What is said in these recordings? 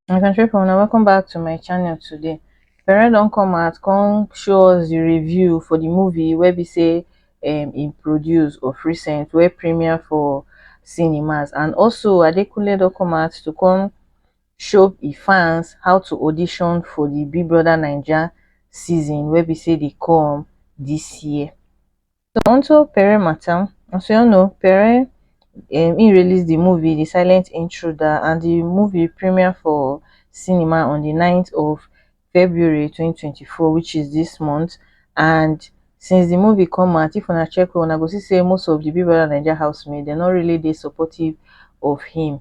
my country people now welcome back to my channel today parent don't come out come show us the review for the movie where we say um in produce of recent where premiere for cinemas and also adekunle don't come out to come show the fans how to audition for the big brother niger season where we say they come this year Toronto pere matam asoɛno pere um im release di movie di silent intruder and di movie premiere for cinema on di ninth of february twenty twenty four which is dis month and since di movie come out if una check well una go see say most of di big brother naija house mate dem no really dey supportive of him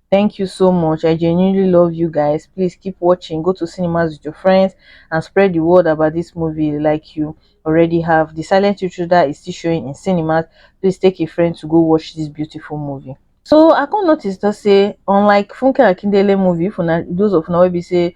thank you so much i genuinely love you guys please keep watching go to cinemas with your friends and spread the word about this movie like you already have the silent intruder is still showing in cinemas please take a friend to go watch this beautiful movie so i come notice to say unlike funke akindele movie for those of now we say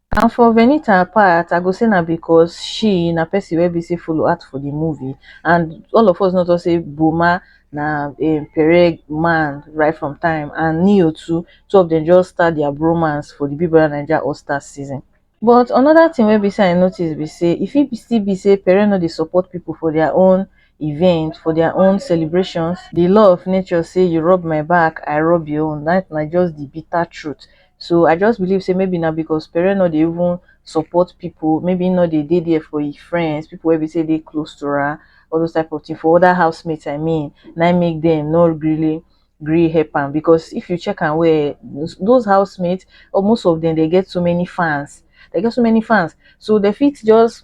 And for Venita part, I go say na because she na person wey be say follow act for the movie and all of us know talk say Boma na um, Pereg man right from time and Neo too, two of them just start their bromance for the Big Brother Naija All Stars season. But another thing wey be say I notice be say e fit still be say Pereg no dey support people for their own event for their own celebrations the law of nature say you rub my back i rub your own that na just the bitter truth so i just believe say maybe now because parent not even support people maybe not they did there for his friends people will be say they close to her all those type of thing for other housemates i mean and i make them not really agree help am because if you check and where those housemates or most of them they get so many fans they get so many fans so they fit just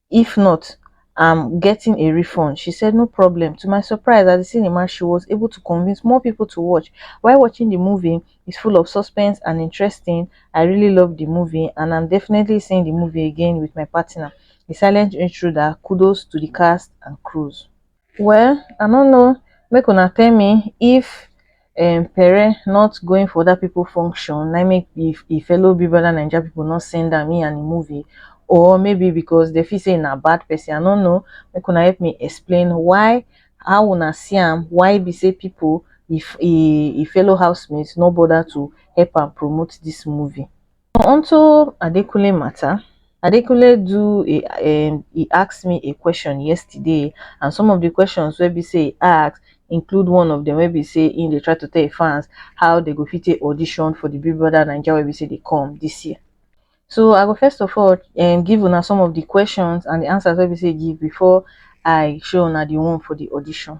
if not am getting a refund she said no problem to my surprise at di cinema she was able to convince more people to watch while watching di movie is full of suspense and interesting i really love di movie and am definitely seeing di movie again with my partner a silent intruder kudos to di cast and crews Well I no know make una tell me if um Pere not going for that people function na make if e fellow Big Brother Naija people not send am in and the movie or maybe because they feel say na bad person I no know make una help me explain why how una see am why be say people if e e fellow housemates no bother to help am promote this movie. Onto Adekunle matter, Adekunle do a um e ask me a question yesterday and some of the questions wey be say e ask include one of them wey be say he dey try to tell him fans how they go fit take audition for the Big Brother Naija wey be say dey come this year. So I go first of all um give una some of the questions and the answers wey be say he give before I show una the one for the audition.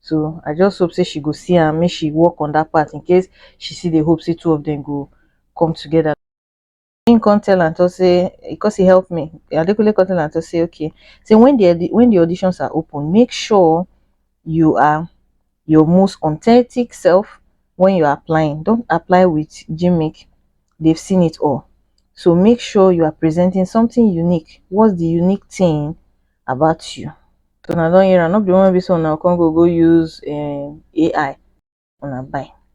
so I just hope say she go see am make she work on that part in case she see the hope say two of them go come together. He come tell am to say because he helped me Adekunle come tell am to say okay say when the when the auditions are open make sure you are your most authentic self when you're applying don't apply with gimmick they've seen it all so make sure you are presenting something unique what's the unique thing about you. So una don hear am, no be the one wey be say una go come go go use um AI una buy.